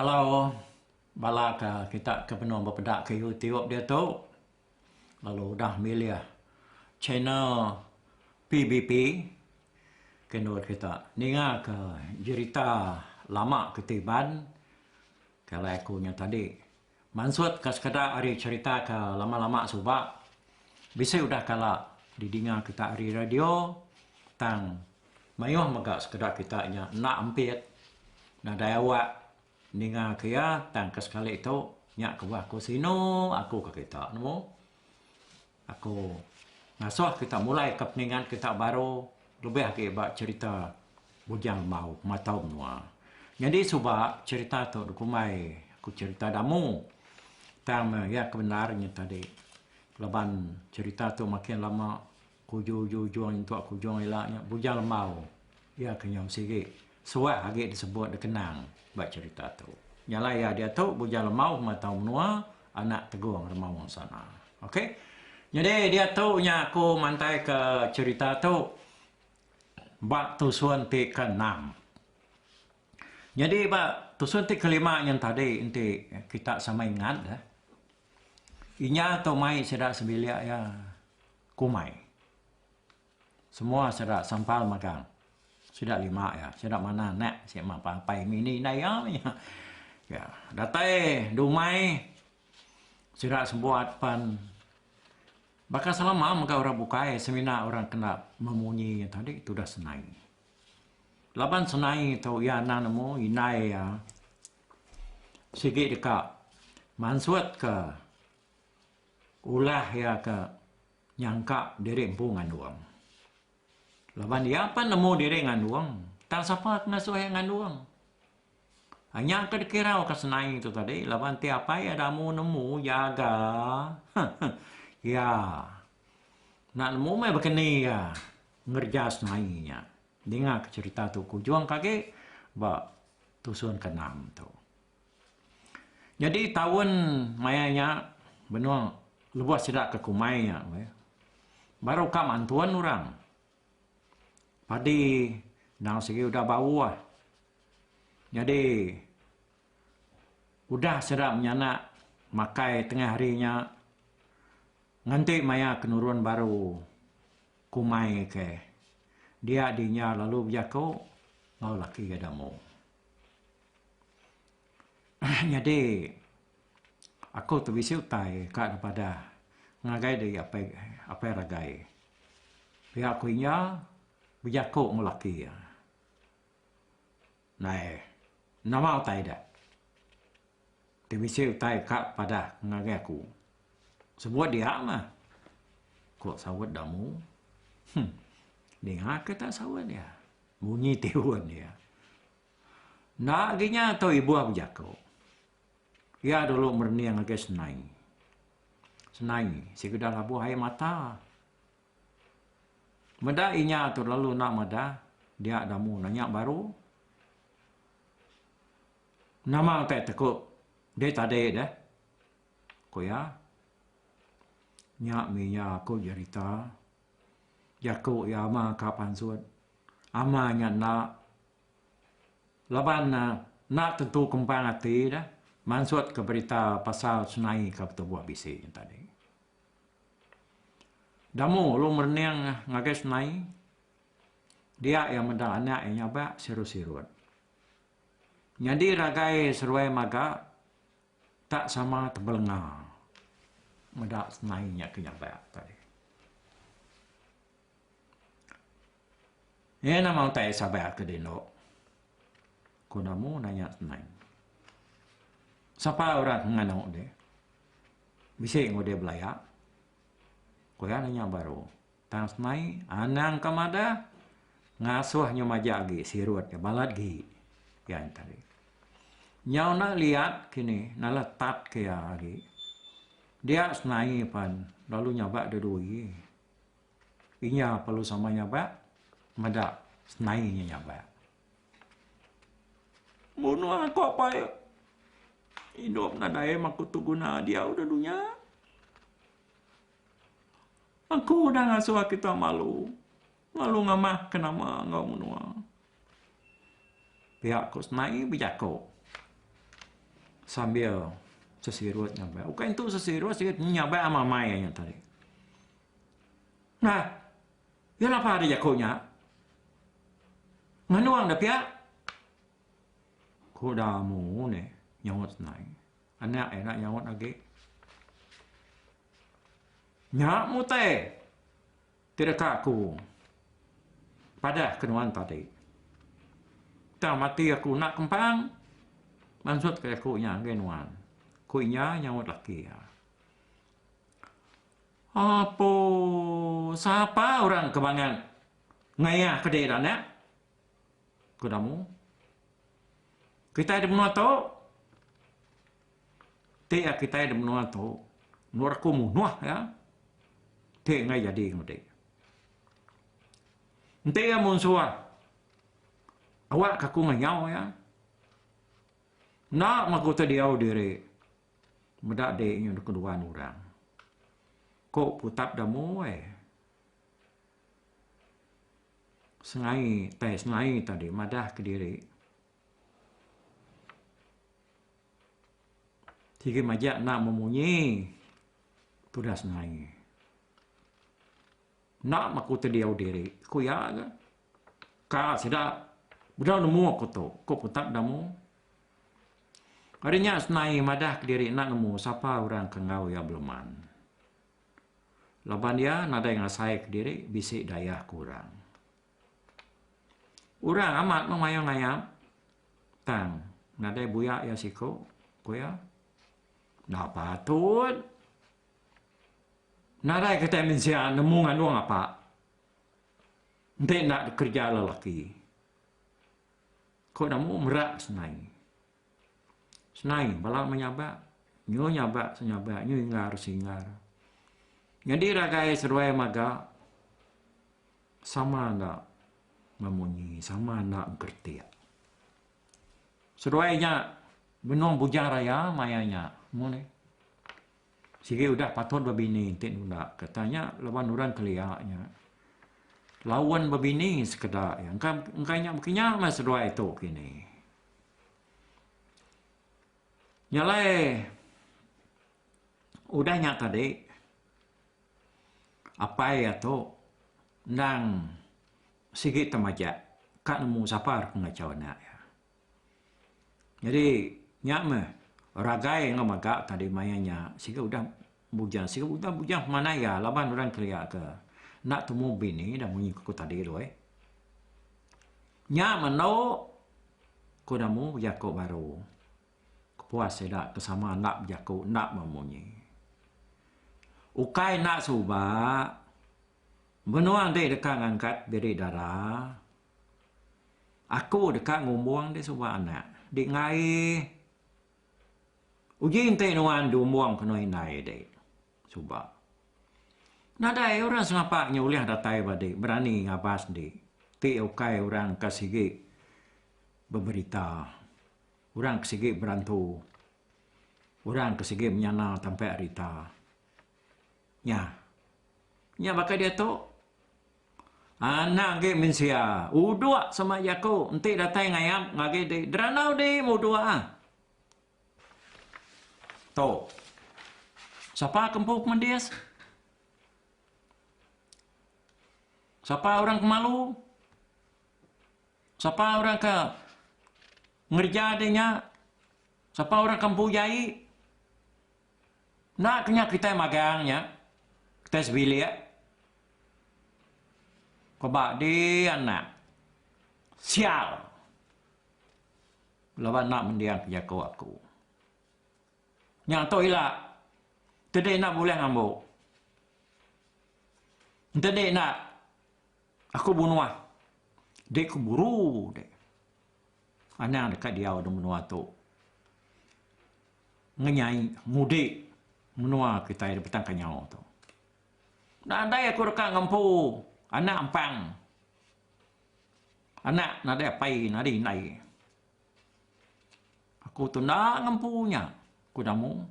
Hello bala ke kita ke benung bepeda ke YouTube diatu lalu udah milih channel PBP ke nurut kita ninga ke jerita lama ke ti ban ke alai aku nya tadi. Mansut ka sekeda ari cherita ke lama-lama suba bisi udah kala didinga kita ari radio tang mayuh mega sekeda kita nya enda ampit nadai awak ninga ke iya tang ke sekali tu nya kebuah ku sinu aku ka kita nemu. Aku ngasuh kita mulai ke peningat kita baru lebih agi ba cherita Bujang Lemau Matau Menua. Nyadi suba cherita tu dikumbai ku cherita damu. Tang iya ke bendar nya tadi laban cherita tu makin lama ke ujung-ujung nyentuk ke ujung ila nya Bujang Lemau iya ke nyau sigi. Suah agi disebut dikenang ba cherita tu. Nyalai iya diatu Bujang Lemau meh tau menua anak Tegong Remaung Sana. Ok. Nyadi diatu nya aku mantai ke cherita tu ba tusun ti ke enam. Nyadi ba tusun ti ke lima nyen tadi enti kita sama ingat eh. Inya tu mai sida sebilik iya Kumai. Semua sera sampal magang. Sida lima iya. Sida manah anak si ma pa apai ngini indai iya mih. Iya. Datai di umai sida sebuat pan baka selama mega orang bukai semina orang kena memunyi iya tadi tudah senai. Laban senai tu iya anang nemu indai iya sigi deka mansutka ulah iya ke Nyangka diri empu ngandung. Laban iya pan nemu diri ngandung, tang sapa ke ngasuh iya ngandung. Ai nya ke dikirauka senai tu tadi laban ti apai iya da amu nemu jaga iya enda nemu meh bekeni iya ngereja senai nya. Dingaka cherita tu ke ujung ke agi ba tusun ke enam tu. Nyadi taun maya nya benung lebuh sida ke kumai nya meh baru ka mantun orang padi endang sigi udah bauh nyadi udah sida menyana makai tengah hari nya nganti maya ke nurun baru kumai ke dia dinya lalu bejaku enggau laki ke demo. Nyadi aku ti bisi utai ka kepadah ngagai diri apai apai ragai pia ku inya bejaku enggau laki iya. Nai nama utai da ti bisi utai ka padah ngagai aku sebut dia mah ku saut da amu huh ninga kita saut dia munyi ti uwon dia. Enda agi nya tau ibuh bejaku. Iya dulu merening ngagai senai. Senai sikudah labuh ai mata. Meda inya tu lalu enda madah dia damu nanya baru. Nama utai teku deh tadi deh? Ku iya. Nya mih iya ku jerita jaku iya ama ka pansut. Ama nya enda. Laban enda tentu kembang ati deh mansut ke berita pasal senai ke betubuh bisi nya tadi. Damu ulun merening ngagai senai dia iya meda anak iya nyabak sirut-sirut. Nyadi ragai seruai maga tak sama tebelenga meda senai nya ke nyabak tadi. Iya nama utai Sabah ke dindo? Ku namu nanya senang. Sapa orang ke nganu deh? Bisi enggau deh belaya. Ku iya nanya baru. Tang senai anang ke madah ngasuh inya maja agi sirut ke balat gi. Iya nya tadi. Nyau enda liat kini nalah tat ke iya agi. Dia senai pen lalu nyabak dua dua agi. Inya perlu sama nyabak meda senai inya nyabak. Munung aku apai idup nadai maku tu guna diau da dunya. Aku udah ngasuh aku tau malu. Lalu ngamah ke nama enggau menua. Pia ku senai bejako sambil sesirut ngabai. Ukai intu sesirut sirut ngabai amai-amai nya tadi. Nah, iya lapa ari jako nya. Nganong da pia. Ku da amu ne nyaut senai. Anak ira nyaut agi. Nya mutai. Ti deka aku padahka nuan tadi. Tang mati aku enda kempang, mansutka aku nya ngagai nuan, ku iya nyaut laki iya. Apo sapa orang ke mangat ngayahka diri enda anak? ku Damu. Kitai di menua tu. Ti ya kitai da menua tu menurut aku munuh ya ti enggai jadi ngundi. Enti ya munsuh awak ka aku ngayau ya enda magu ti diau diri meda di nyin ke duan orang. Ko putap da muai sengai tai sengai tadi madah ke diri. Sigi majak enda memunyi tudas nai. Enda maku tediau diri ku iya ga. Ka sida udah nemu ku tu ku putak da mu. Ari nya senai madah kediri enda nemu sapa orang ke enggau iya beleman. Laban iya nadai ngasai kediri bisi dayah ke orang. Orang amat meh mayuh ngayap tang nadai buyak iya siko ku iya enda patut nadai kitai mensia nemu ngandung apak enti enda kerja lelaki ko nemu merak senai. Senai bala menyabak nyuh nyabak senyabak nyuh inggar seinggar. Nyadi ragai seduai maga sama enda memunyi sama enda mengkeritik. Seduai nya benung bujang raya maya nya mung nih. Sigi udah patut bebini ti nunda ke tanya laban orang kelia nya laun bebini sekeda iya engka engka nya bekenyau meh seduai tu kini. Nya alai udah nya tadi apai iya tu endang sigi te majak ka nemu sapa ke ngachau anak iya. Jadi nya meh ragai enggau maga tadi maya nya sigi udah Bujang siku bujang bujang pemanai ga laban orang kelia ke enda temu bini dah munyi ku tadi tu eh. Nya mendo ku namu bejaku baru. Kepuas sida ke sama enda bejaku enda meh munyi. Ukai enda suba menua enti deka ngangkat biri dara aku deka ngumbung deh suba anak di ngaie. Uji enti nuan diumbung ke enoi indai dek. Suba. Nadai orang sengapa nya ulih datai ba dek berani ngabas dek. Ti ukai orang ke sigi beberita. Orang ke sigi berantu. Orang ke sigi menyana tampe rita. Nya. Nya baka diatu. Anak agi mensia, udok sama jaku enti datai ngayap ngagi di Deranau di mudok ah. Tu. Sapa ke empu kemendis? Sapa orang ke malu? Sapa orang ke ngereja deh nya? Sapa orang ke empu jai? Enda kenyah kitai magang nya, kitai sebilik ko ba dih anak sial laban enda mendiang ke jaku aku. Nya tu ila tedih enda bulih ngambu. Entedi enda. Aku menua dek ku buru dek. Anang deka diau da menua tu. Ngenyai ngudi menua kitai da Batang Kanyau tu. Nadai aku deka ngempu anak ampang. Anak nadai apai nadai indai. Aku tu enda ngempu nya, ku Damu.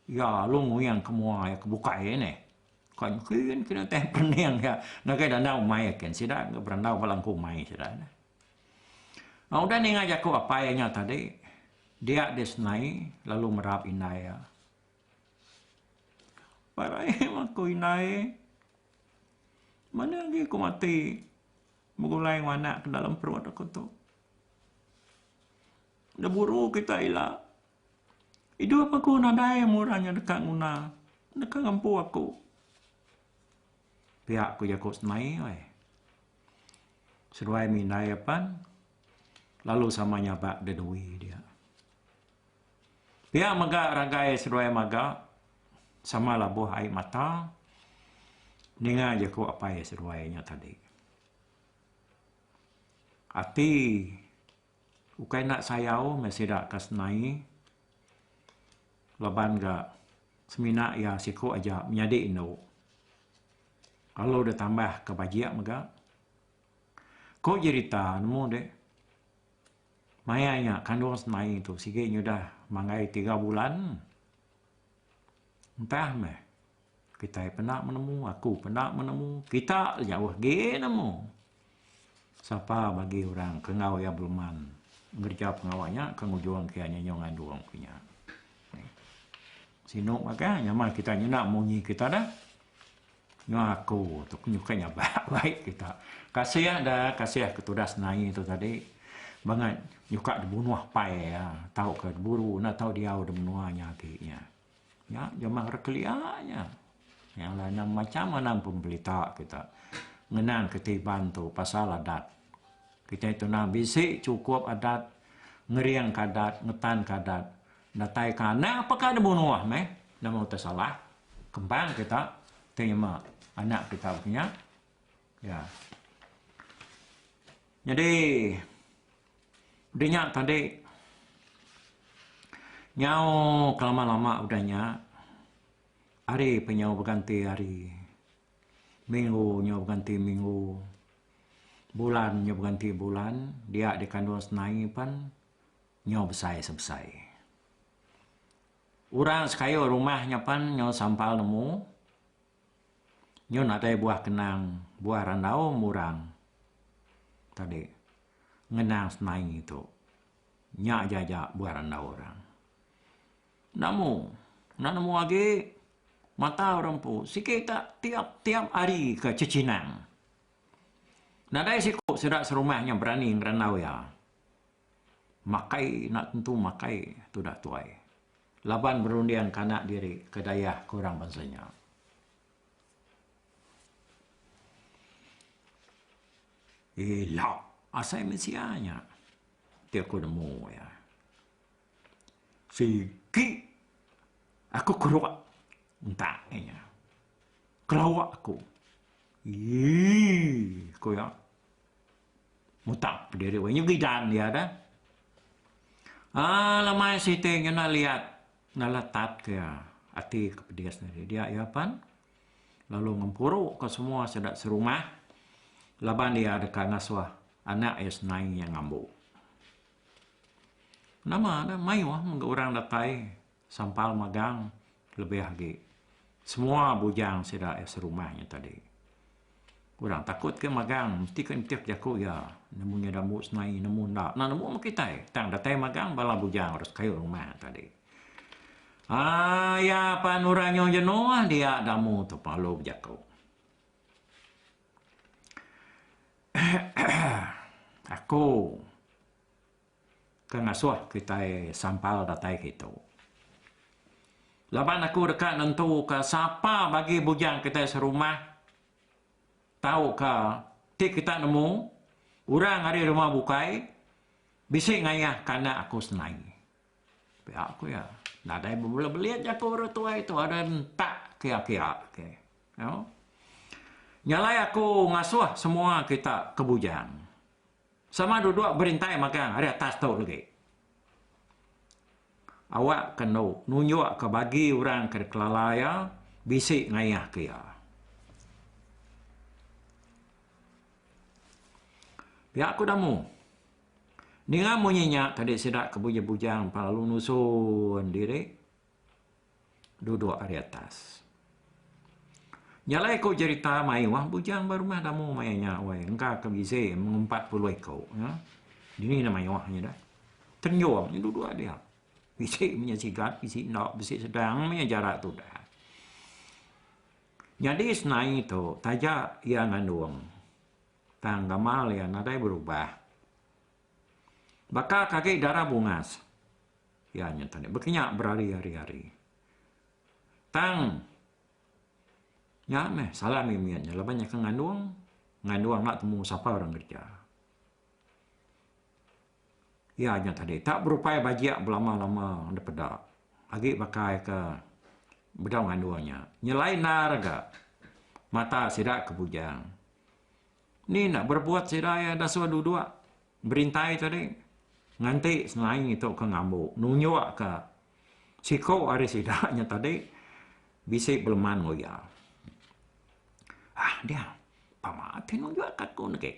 Iya lalu nguyang ke mua iya ke bukai iya nih. Kai nyikin kini utai perening iya ngagai dandau umai iya kin sida ke berandau ba langku umai sida nih. Nah udah ninga jaku apai iya nya tadi, dia deh senai lalu merap indai iya. Apai Raim, aku indai, mane agi ku mati begulai ngawa anak ke dalam perut aku tu. Da buru kita ila idup aku nadai mung orang nya deka nguna deka ngempu aku. Pia ku jaku semai weh. Seduai mindai apan lalu sama nyaba da dui dia. Pia mega ragai seduai maga sama labuh ai mata ninga jaku apai seduai nya tadi. Ati ukai enda sayau meh sida ke senai laban ga semina iya siku aja menyadi indu lalu deh tambah ke bajik mega. Ko jerita nemu deh maya iya kandung senai tu sigi nyudah manggai tiga bulan entah meh. Kitai peda menemu, aku peda menemu, kita jauh agi nemu. Sapa bagi orang ke enggau iya beluman ngereja pengawa nya ke ngujung ke iya nyenyung andung ku nya. Sinu makai nyama kita nyenda munyi kita dah. Nyu aku tu nyukai nyabak baik kita. Kasih dah, kasih ke tudas nai tu tadi. Bangat nyuka dibunuh pai iya, tauka diburu enda tau diau di menua nya agi iya. Nya jemah ra kelia nya. Yang lain macam anang pemberita kita ngenang ketiban tu pasal adat. Kitai tunang bisi chukup adat, ngeringka adat, ngetanka adat. Dataika anak apa ka dibunuh meh nemu tesalah kembang kita terima anak kita punya. Ya. Nyadi dinya tadi nyau kelama-lama udah nya hari pun nyau beganti hari. Minggu nyau beganti minggu. Bulan nyau beganti bulan, dia di kandung senai pan nyau besai se besai. Orang sekayu rumah nya pan nyau sampal nemu. Nyau nadai buah kenang, buah randaum orang tadi ngenang semai tu. Nya aja aja buah randau orang. Enda mu, enda nemu agi mata orang empu sigi ka tiap-tiap hari ka cecinang. Nadai siku sida serumah nya berani ngerandau iya. Makai enda tentu makai tudak tuai. laban berunding ke anak diri ke dayah ke orang bansa nya. Ila asai mensia nya ti aku nemu iya. Sigi aku keruak entak inya. Kelawa aku. Ii ku iya. Mutak pediri weh nyugi dan iya dah. Aa lemai siti ngena liat nala tat ke iya ati ke pedis nya dia iya pan lalu ngempuru ke semua sida serumah laban iya deka ngasuh anak iya senai iya ngambu. Nama dah mayuh mega orang datai. Sampal magang lebih agi semua bujang sida iya serumah nya tadi. Orang takut ke magang mesti ke entik jaku iya nemu nya da ambu senai nemu enda enda nemu meh kitai tang datai magang bala bujang orang sekayuh rumah tadi. Aa iya pan orang nyau jenuh dia da ambu tu pan lalu bejaku. Aku. ke ngasuh kitai sampal datai kitu. Laban aku deka nentuka sapa bagi bujang kitai serumah tauka ti kita nemu orang ari rumah bukai bisi ngayah ke anak aku senai. Pia ku iya. Nadai bebelit-belit jaku orang tuai tu ada entak kia-kia ke. Nyau. Nya alai aku ngasuh semua kita ke bujang. Sama duduk berintai magang ari atas tu lagi. Awak ke endo nunjuk ke bagi orang ke dikelala iya bisi ngayah ke iya. Pia ku Damu. Ninga munyi nya kadi sida ke bujang-bujang empa lalu nusun diri. duduk ari atas. Nyalai ko jerita mai wang bujang ba rumah damu maya nya wai engka ke bize mung empat puluh iko ya. Dini na mai wang nya dah. Tenjong nya duduk aja. Bisi nya sigat bisi enda bisi sedang maya jarak tu dah. Nyadi senai tu taja iya ngandung tang gamal iya nadai berubah. Baka ke agi darah bungas. Iya nya tadi bekenya berari-ari hari. Tang nya meh salah mih mit nya laban nya ke ngandung, ngandung enda temu sapa orang kerja. Iya nya tadi tak berupai bajik belama-lama dep peda agi pakai ke bedau ngandung nya. Nyelai endar ga mata sida ke bujang. Ni enda berbuat sida iya dasuh duduk berintai tadi nganti senai tu ke ngambu nunjuk ke siku ari sida nya tadi bisi beleman enggau iya. Haa dia pama ti nunjuk ke aku negi.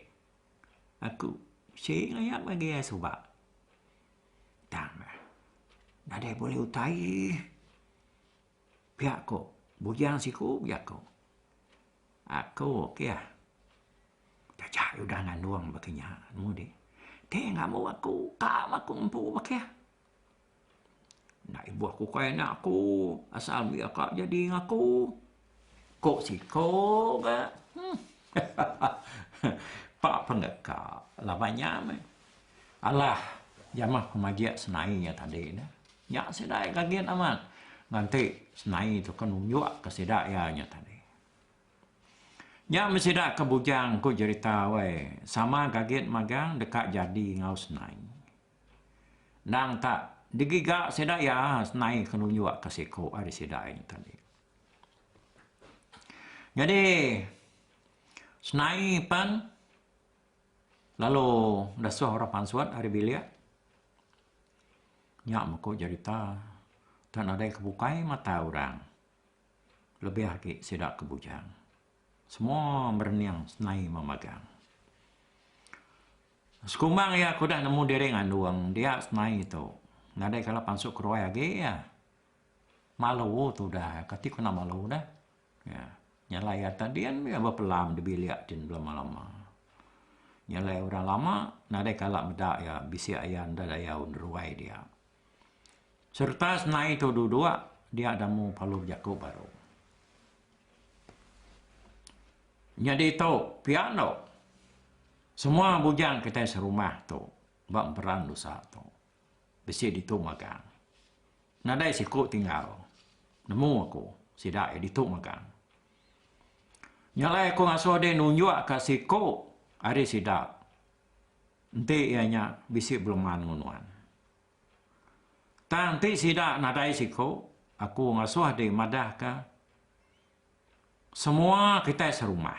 Aku bisi ngaya magi iya suba. Tang deh nadai buleh utai. Pia ko, bujang siku pia ko, Aku ke iya taja udah ngandung baka nya mudi. Ti ngamu aku ka ma ku empu baka iya. Enda ibuh ku kai anak aku asal mih ka jadi ngan aku, ko siku ka. Pak pengeka laban nya meh. Alah, jamah ku majik senai iya tadi dah. Nya sida ai gagit amat nganti senai tu ke nunjuk ke sida iya nya tadi. Nya meh sida ke bujang ku jerita wai sama gagit magang deka jadi enggau senai. Endang tak digiga sida iya senai ke nunjuk ke siko ari sida ai nya tadi. Nyadi senai pen. Lalu ngeresoh orang pansut ari bilik nya meko jerita tok nadai ke bukai mata orang lebih agi sida ke bujang. Semua merening senai meh magang. Sekumbang iya ke udah nemu diri ngandung dia senai tu nadai kala pansut ke ruai agi iya. Malu tu udah kati kena malu dah. Nyalai iya tadin mega bepelam di bilik ti lama-lama. Nyalai orang lama nadai kala meda iya bisi iya enda dayau neruai dia. Sereta senai tu dua-dua dia ida mung palu bejaku baru. Nyadi tu pia endo semua bujang kitai serumah tu ba emperan usa tu. Bisi ditu magang. Nadai siku tinggal. Nemu aku sida iya ditu magang. Nya alai aku ngasuh deh nunjukka siku ari sida enti iya nya bisi beleman enggau nuan. Tang enti sida nadai siku, aku ngasuh deh madahka semua kitai serumah.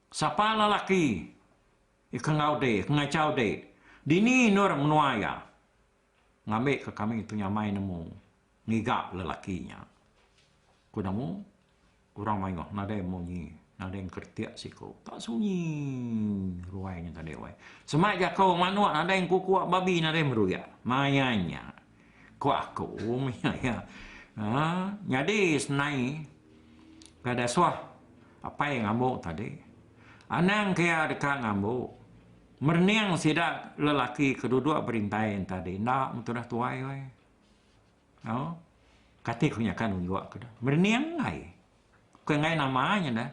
Sapa lelaki ke enggau de ke ngachau de, dini endor menua iya? Ngambika kami tu nyamai nemu ngiga lelaki nya. Ku nemu orang mayuh nadai munyi, nadai engkeretik siku. Tak sunyi ruai nya tadi weh. Sema jako manuk nadai engkukuk babi nadai meruyak. Maya nya. Ku aku mih iya. Ha, nyadi senai ka dasuh apai ngambu tadi. Anang ke iya deka ngambu. Merening sida lelaki ke duduk berintai entadi enda mun tudah tuai weh. Au. Kati ku nyaka nunjuk ke deh. Merening ai. Bukai enggai nama nya deh.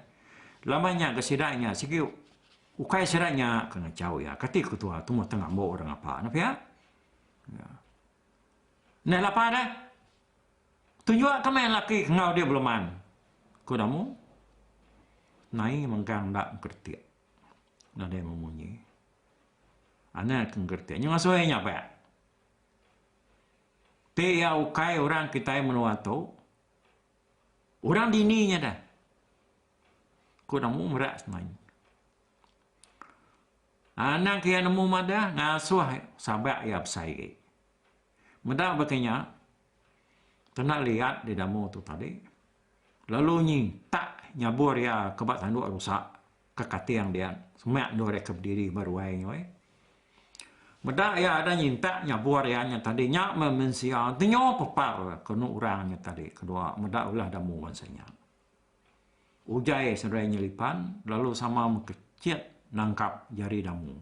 Laban nya ke sida nya sigi ukai sida nya ke ngachau iya. Kati ku tuah tu meh tengambu orang ngapa ne pia. Nya lapa deh. Tuju ke meh laki enggau dia beleman. Ku Damu. Nai mengkang enda engkeretik. Nadai meh munyi. Anang ke engkeretik. Nyuh ngasui nya pea. Ti iya ukai orang kitai menua tu, orang dini nya deh. Ku nemu merak semayang. Anak iya nemu madah ngasuh sabak iya besai agi. Meda baka nya kena liat didamu tu tadi lalu nyintak nyabur iya ke ba tanduk rusa ke kating dia semak endur iya ke bediri ba ruai nya weh. Meda iya ada nyintak nyabur iya nya tadi nya meh mensia tenyo pepar ke enu orang nya tadi kedua meda ulah damu bansa nya. Ujai seduai nyelipan lalu sama mekecit nangkap jari damu.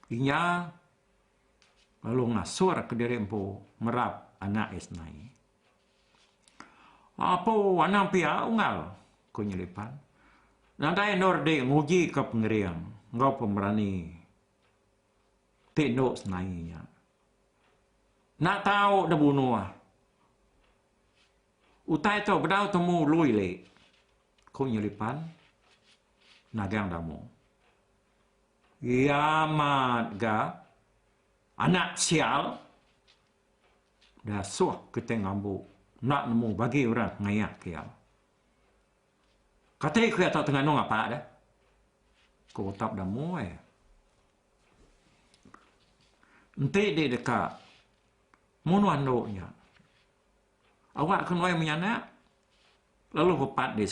Inya lalu ngasur kediri empu merap anak iya senai. Apo anang pia Unggal? ku nyelipan. Nadai endor dik ngujika pengering enggau pemerani ti endu senai nya. Enda tau dibunuh. Utai tu bedau temu Lui li, ku nyelipan Nagang Damu. Kiamat ga anak sial dasuh Kiting Ambu enda nemu bagi orang ngayahka iya. Kati ku iya tu tenganung apa deh? ku Utap Damu ai. Enti di deka munuh andu nya. Awak ke nuai menyanak lalu repat di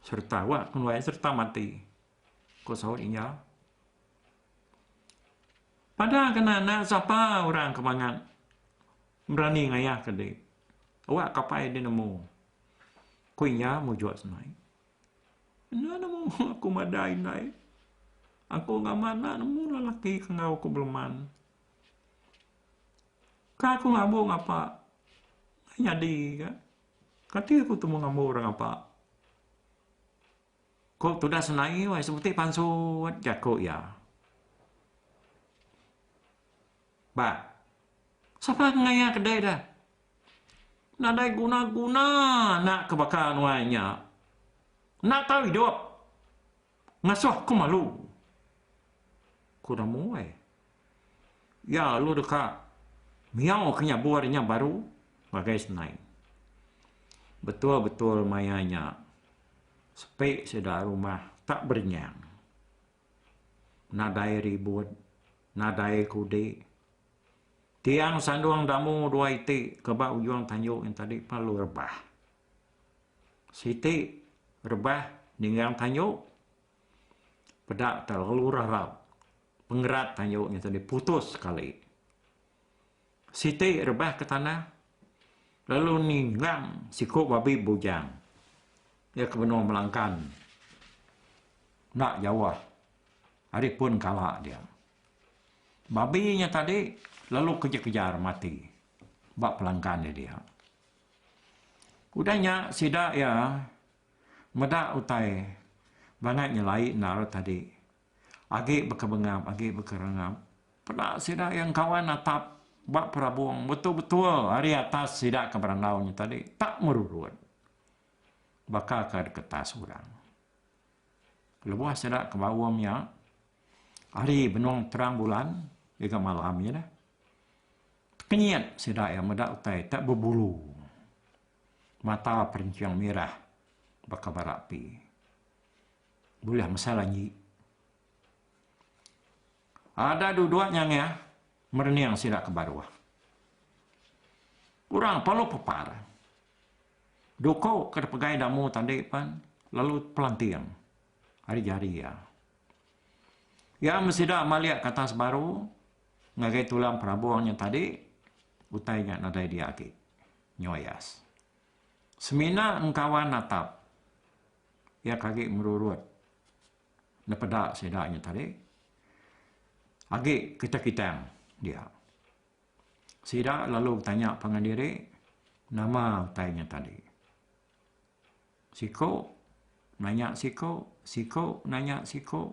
sereta awak ke nuai sereta mati, ku saut iya. Padah kena anak sapa orang ke mangat berani ngayahka diri awak kapai deh nemu, ku iya mujuk senai. Enda nemu aku madai indai. Aku ngamak enda nemu lelaki ke enggau aku beleman, Ke aku ngambu ngapa ke nyadi ga kati aku temu ngambu orang ngapa ko tudah senai wai sebuti pansut jaku iya ba sapa ke ngayak ke dei da nadai guna guna anak ke baka nuan nya enda tau idup ngasuh ku malu ku da muai Iya lalu deka ngiyauka nya buah nya baru ngagai senai. Betul-betul maya nya sepi sida rumah tak berenyang. Nadai ribut, nadai kudi. Tiang sandung damu dua iti ke ba ujung tanjung nya tadi pun lalu rebah. Siti rebah ninggang tanjung peda te lalu rarap Pengerat tayu nya tadi putus sekali. Siti rebah ke tanah lalu ninggang siku babi bujang. Iya ke benung melangkan enda jauh ari pun kala dia. Babi nya tadi lalu kejar-kejar mati ba pelangkan iya dia. Udah nya sida iya meda utai bangat nyelai endar tadi. Agi baka bengap agi baka rangap. Peda sida iya engkawan natap ba perabung betul-betul ari atas sida ke berandau nya tadi tak merurut baka ke deketas orang. Lebuh sida ke baum iya ari benung terang bulan ngagai malam iya dah tekenyit sida iya meda utai tak bebulu mata perenching mirah baka bara api. Bulih mesal agi. Ada duduk nyangah merening sida ke baruh. Orang perlu pepar. Duko ke dipegai Damu tadi pan lalu pelanting ari jari iya. Iya meh sida malik ke atas baru ngagai tulang perabung nya tadi utai nya nadai dia agi. Nyoyas. Semina engkawan natap. Iya ke agi ngerurut nepeda sida nya tadi agi ketekitang dia. Sida lalu betanya pangan diri nama utai nya tadi. Siku nanya siku, siku nanya siku.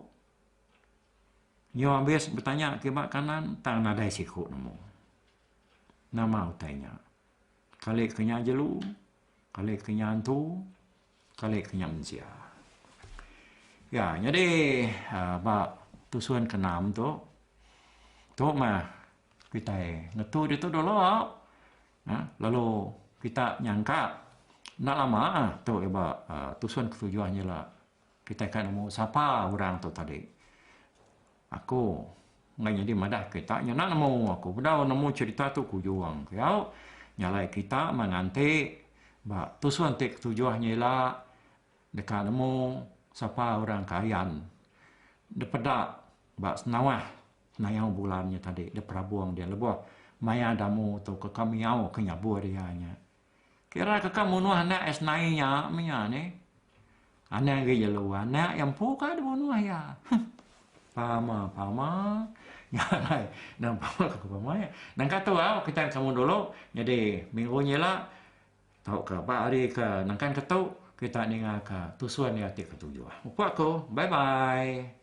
Nyu abis betanya kiba kanan tang nadai siku nemu nama utai nya. Kali ke nya jelu, kali ke nya antu. Kalik nya mensia. Ya, nyadi ba tusun ke enam tu, tu mah kitai ngetu ditu dulu lalu kita nyangka enda lama tu iba tusun ke tujuh nya ila kitai ka nemu sapa orang tu tadi. Aku enggai nyadi madah kita nyana nemu aku bedau nemu cerita tu ku Juang ke au nyalai kita main ante ba tusah ente ketujuh nya ila deka nemu sapa orang ke ayan depeda ba senawah nayau bulan nya tadi deprabung dia lebuh maya damu tu ke kamiau ke nyabur iya nya. Kira keka munuh anak Esnai nya mia nih. Anang agi jelu anak iya empu ka dibunuh iya. Pama pama. Nya alai nang pama ke pama iya. Nang ka tu au kitai ke semua dulu nyadi minggu nya ila tauka ba hari ke nangkan ke tu kita ninga ka tusun iya ti ketuju. Upah aku. Bye bye.